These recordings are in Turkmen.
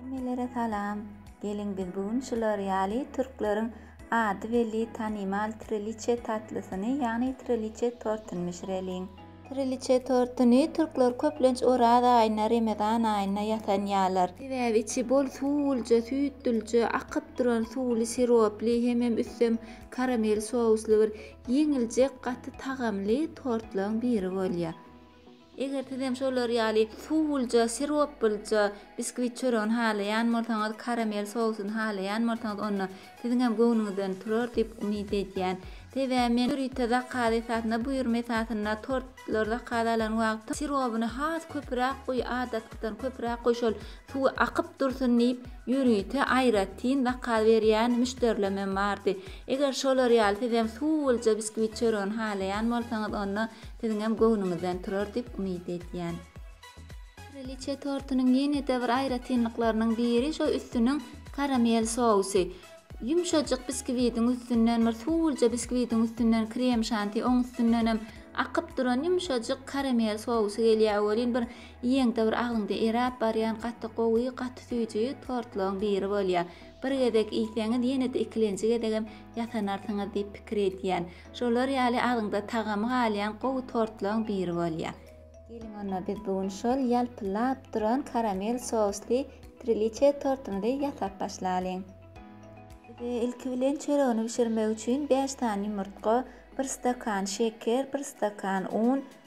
Hemmelere salam! Geliň biz bu gün şular ýaly türkleriň ady belli tanymal triliche tatlysyny ýagny triliche tortyny bişireliň. Triliche tortyny türkler köplenç Oraz aýyna, Remezan aýyna ýasanýarlar. Sebäbi içi bol suwulja, süýtlülje, akyp duran suwly siroply hemem üstem karamel sously bir ýeňiljek gaty tagamly tortlaryň biri bolýar. Eger sizem şolar ýaly suwulja, siroplyja biskwit çöregini halaýan bolsaňyz, karamel sousyny halaýan bolsaňyz, onda siziňem göwnüňizden turar diýip umyt edýän. Sebäbi men ýörite zakaz esasynda, buýurma esasynda tortlary zakaz alan wagtym sirobyny has köpüräk guý, adatkydan köpüräk guý, şol suwy akyp dursun diýip, ýörite aýratyn zakaz berýän müşderilemem bardy. Eger şolar ýaly sizem suwulja biskwit çöregini halaýan bolsaňyz, onda Siziňem göwnüňizden turar diýip umyt edýän. Kraliçe tortunyň ýene-de bir aýratynlyklarynyň biri şo üstüniň karamel sousy. Ýumşajyk biskiwitiň üstünden bir suwulja biskiwitiň üstünden krem şanti oň üstündenem akyp duran ýumşajyk karamel sousy gelýär welin bir iýeňde bir agzyňda eräp barýan gaty gowy gaty süýji tortlaryň biri bolýar. Bir gezek iýseňiz ýene-de ikilenji gezegem ýasanarsyňyz diýip pikir edýän. Şolar ýaly agzyňda tagamy galýan gowy tortlaryň biri bolýar. Geliň onda biz bu gün şol ýalpyllap duran karamel sously triliçe tortumyzy ýasap başlalyň. Bize ilki bilen çöregini bişirmek üçin bäş sany ýumurtga, bir stakan şeker, bir stakan un,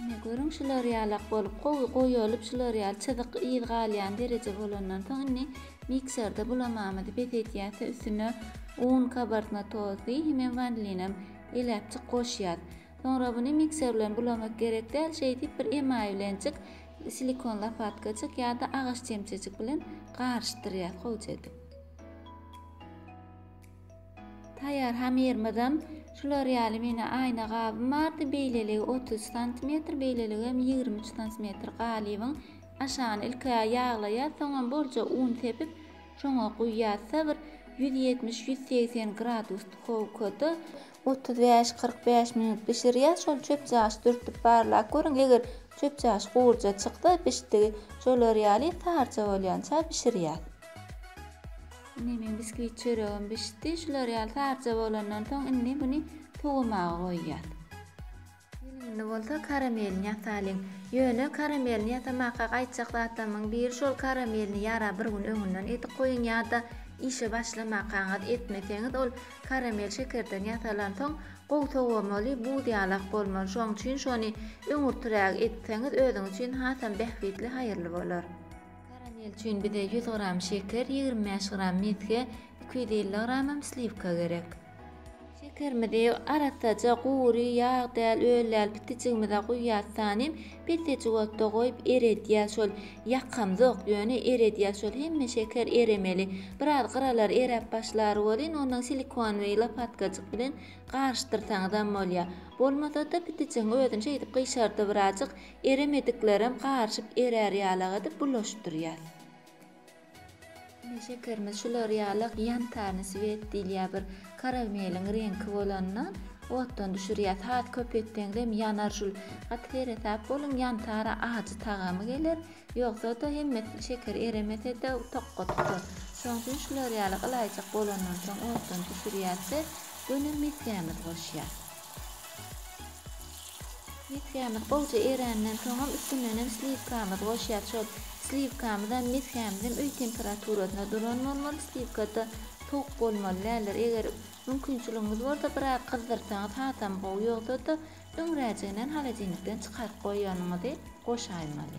Ine, görüň, şular ýalak bolup, gowy goýalyp, şular ýaly çyzyk yz galýan dereje bolandan soň, indi mikserde bulamamyzy bes edýäs we üstüne un, kabartma tozy hemem wanilinem eläpjik goşýas. Soňra buny mikser bilen bulamak gerek däl, şeýdip bir emaý bilenjik, silikon lopatkajyk ýa-da agaç çemçejik bilen garyşdyrýas gowja edip. Taýýar hamyrymyzam şular ýaly meni aýna gabym bardy, beýleligi otuz santimetr, beýleligem ýigrimi üç santimetr galybyň aşagyny ilki ýaglaýas, soňam bolja un sepip, şoňa guýýas da bir ýüz ýetmiş, ýüz segsen gradus duhowkada otuz bäş, kyrk bäş minut bişirýäs, şol çöpjagaz dürtüp barlap görüň, eger çöpjagaz gurja çyksa, bişdigi şolar ýaly sarja bolýança bişirýäs. Indi meň biskvit çöregim bişdi. Şular ýaly sarja bolandan soň indi muny sowamaga goýýas. Gelinini bolsa karamelini ýasalyň. Ýöne karamelini ýasamaka gaýtjak zatlarymyň biri şol karamelini ýara bir gün öňünden edip goýuň ýa-da işe başlamakaňyz etmeseňiz ol karamel şekerden ýasalan soň gowy sowamaly buz ýalak bolmaly şoň üçin şony öňürtiräk etseňiz özüňiz üçin hasam bähbitli haýyrly bolar. Karamel üçin bize ýüz gram şeker, ýigrimi bäş gram mesge, iki ýüz elli gramam sliwka gerek. Şekerimizi arassaja gury, ýag däl, öl däl pitijigimize guýýas tanym. Pissejik otda goýup eredýäs şol. Ýakamzok, ýöne eredýäs şol. Hemme şeker eremeli. Biraz gyralar eräp başlar welin, ondan silikonwyý lopatkajyk bilen garyşdyrsaňyzam bolýar. Bolmasa-da pitijigiň özüni şeýdip gyşardy birazjyk. Eremediklerem garyşyp erär ýalak edip bulaşdyrýas. Ine şekerimiz şular ýalak ýantarny swet diýilýär bir karameliň reňki bolandan otdan düşürýäs has köp etseňizem ýanar şul gaty seresap boluň ýantara ajy tagamy geler ýogsada hemme şeker eremesede tokga tutar şoň üçin şular ýalak ylaýjak bolandan soň otdan düşürýäs we göni mesgämizi goşýas. Miskämiz gowja eränden soňam üstünenem sliwkamyzy goşýas şol sliwkamyzam miskämizem öý temperaturasyna duran bolmaly sliwkada sowuk bolmaly däldir eger mümkinçiligiňiz bolsa biraz gyzdyrsaňyz hasam gowy ýogsada öňräjiginen holodilnikden çykaryp goýanyňyzy goşaýmaly.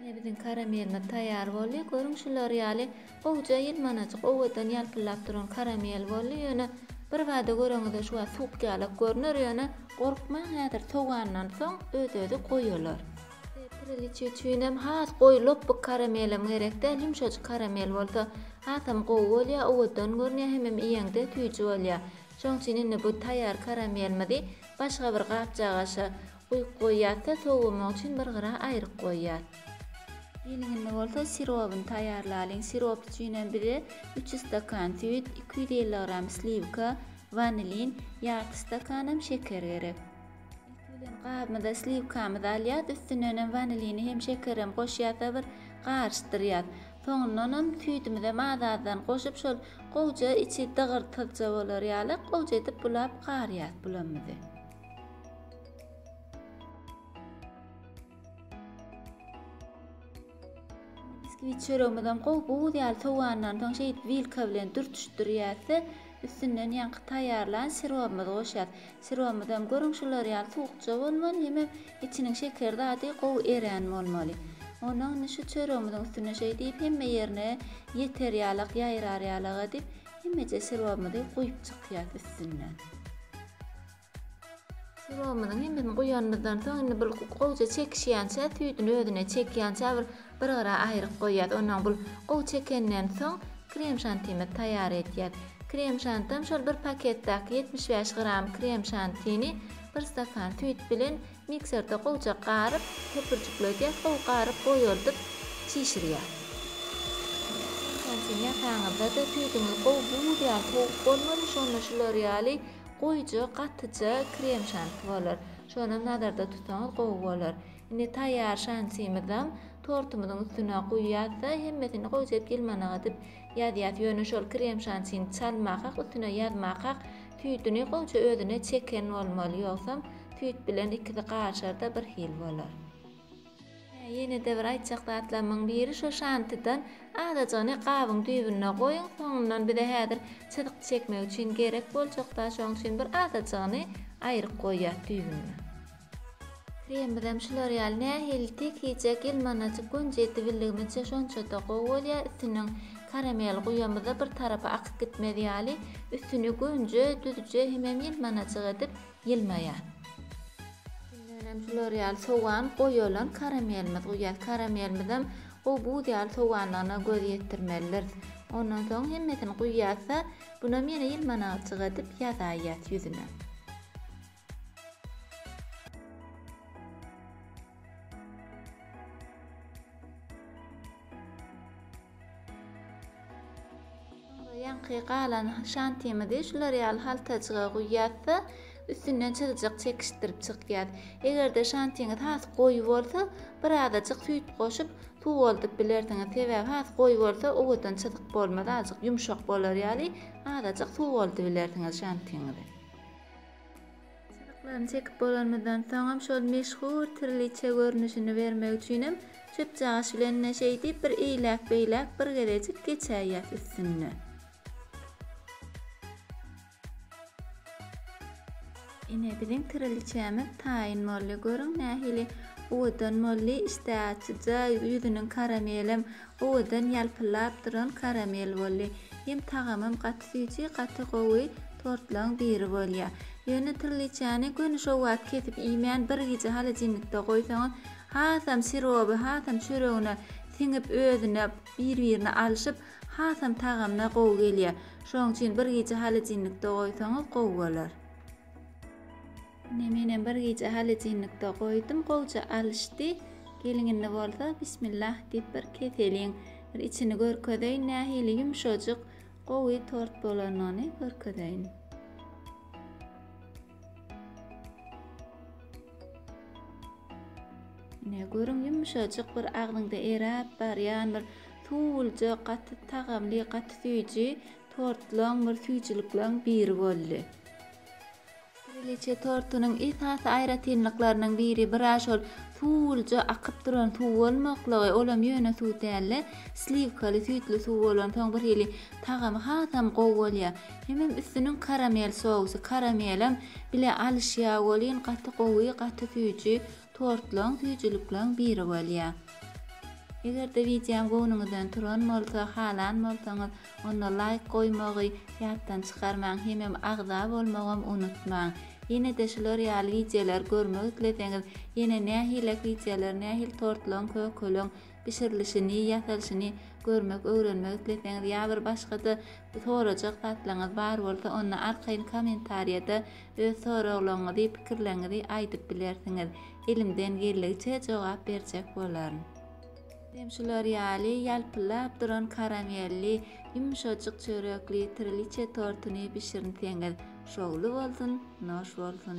Ine biziň karamelimiz taýýar boldy. Görüň şular ýaly gowja ýylmanajyk owadan ýalpyldap duran karamel boldy. Ýöne birbada göreňizde şu wagt suwukýalak görner ýöne gorkmaň häzir sowandan soň öz özi goýular. Bize Kriliçe üçinem has goýy lopbuk karamelem gerek däl ýumşajyk karamel bolsa hasam gowy bolýar owadan görünýär hemem iýeňde süýji bolýar. Şoň üçin indi bu taýýar karamelimizi başga bir gapjagaşa Guýup goýýat-da, sowamagy üçin bir gyra aýryp goýýat. Geligini bolsa sirobyny taýýarlalyň. Sirop üçinem bize üç ýüz stakan süýt, iki ýüz elli gram sliwka, wanilin, ýarty stakanam şeker gerek. Ilki bilen gabymyza sliwkamyzy alýas, üstünenem wanilini hem şekerem goşýas-da bir garyşdyrýas. Soňundanam süýdümizem az-azdan goşup şol gowja içi dygyrtyzja bolar ýaly gowja edip bulap garýas bulamyzy. Biskvit çöregimizem gowy buz ýaly sowandan soň şeýdip wilka bilen dürtüşdirýäs-de, üstünden ýaňky taýýarlan sirobymyzy goşýas. Sirobymyzam görüň şular ýaly suwukja bolmaly, hemem içiniň şeker zady gowy erän bolmaly. Ondan indi şu çöregimiziň üstüne şeýdip hemme ýerine ýeter ýalak, ýaýrar ýalak edip Hemmeje syrobymyzy guýup çykýas üstünden. Syrobymyzyň hemmesini guýanymyzdan soň indi bul gowja çekişýänçä süýdüni özüne çekýänçä bir bir gyra aýryp goýýas. Ondan bul gowy çekenden soň krem şantimizi taýýar edýäs. Krem şantam şol bir paketdäki ýetmiş bäş gram krem şantini bir stakan süýt bilen Mikserde gowja garyp, köpürjiklerdi, soň garyp goýardyp çişirýär. Entägsi ýasaňyzda-da süýdüňiz gowy buz ýaly sowuk bolmady, şonda şular ýaly goýuja, gatyja krem şanti bolar. Şonam nazarda tutsaňyz gowy bolar. Indi taýýar şantymyzam tortumyzyň üstüne guýýas-da, hemmesini goýjap ýylmanaga dip ýazýas. Ýöne şol krem şantini çalmakak, üstüne ýazmakak Tüýdüni goja özüne çeken bolmaly, ýogsam tüýt bilen ikisi garyşar-da bir hil bolar. Hä, ýene-de bir aýtjak zatlarymyň biri şo şantydan azajygyny gabyň düýbüne goýuň, soňundan bize häzir çyzyk çekmek üçin gerek boljak-da, şoň üçin bir azajygyny aýryk goýýas düýbüne. Kremimizem şular ýaly nähili tekijek ýylmanajyk gönc edibildigimizçe şonçada gowy bolýar üstünden karamel guýamyzda bir tarapa akyp gitmez ýaly üstüni gönce düzje hemem ýylmanajyk edip ýylmaýar. Üstündenem şular ýaly sogan goýalan karamelimiz guýýas karamelimizem gowy buz ýaly soganlygyna göz ýetirmelidiris ondan soň hemmesini guýýasda bunam ýene ýylmanajyk edip ýazaýýas ýüzüne. Soňra ýaňky galan şantimizi şular ýaly haltajyga guýýas-da, üstünden çyzyjak çekişdirip çykýas. Eger-de şantiňiz has goýy bolsa, birazajyk süýt goşup, suwaldyp bilersiňiz. Sebäbi has goýy bolsa, owadan çyzyk bolmaz, azajyk ýumşak bolar ýaly, azajyk suwaldybilersiňiz şantiňizi. Çyzyklaryny çekip bolanymyzdan soňam şol meşhur trliçe görnüşini bermek üçinem çöpjagaş bilen-de şeý diýip bir eýläk-beýläk bir gezejik geçäýýäs üstünden. Ine, biziň trliçämiz taýyn boldy. Görüň, nähili owadan boldy. Işdäaçyja, ýüzüniň karamelem Owadan ýalpyllap duran karamel boldy. Hem tagamam gaty süýji, gaty gowy tortlaň biri bolýar. Ýöne trliçany göni şo wagt kesip iýmän bir gije holodilnikde goýsaňyz hasam siroby hasam çöregine siňip özüne bir birine alşyp hasam tagamyna gowy gelýär. Şoň üçin bir gije holodilnikde goýsaňyz gowy bolar. Ine menem bir gije halejinnikde goýdum gowja alyşdy. Geliň indi bolsa bismillah diýip bir keseliň. Bir içini görkezeýin nähili ýumşajyk gowy tort bolanyny görkezeýin. Ine görüň ýumşajyk bir agzyňda eräp barýan bir suwulja gaty tagamly gaty süýji tortlaň bir süýjülikleň biri boldy. Kraliçe tortunyň esasy aýratynlyklarynyň biri bira şol suwulja akyp duran suw bolmaklygy, olam ýöne suw däl-de, sliwkaly, süýtli suw bolansoň birhili tagamy hasam gowy bolýar. Hemem üstüniň karamel sousy, karamelem bile alyşýar welin gaty gowy, gaty süýji, tortlaň süýjülikleň biri bolýa. Eger-de wideom göwnüňizden turan bolsa, halan bolsaňyz, onda laýk goýmagy ýatdan çykarmaň, hemem agza bolmagam unutmaň. Ýene-de şular ýaly wideolar görmek isleseňiz, ýene nähilek wideolar, nähili tortlaň, kökeleň, bişirilişini, ýasalyşyny görmek, öwrenmek isleseňiz ýa bir başga-da sorajak zatlaryňyz bar bolsa, onda arkaýyn kommentariýada öz soraglaryňyzy, pikirleriňizi aýdyp bilersiňiz. Elimden geldigiçe jogap berjek bolaryn. Hem şular ýaly ýalpyldap duran karamelli, ýumşajyk çörekli triliçe tortuny bişirinseňiz, şowly bolsun, noş bolsun!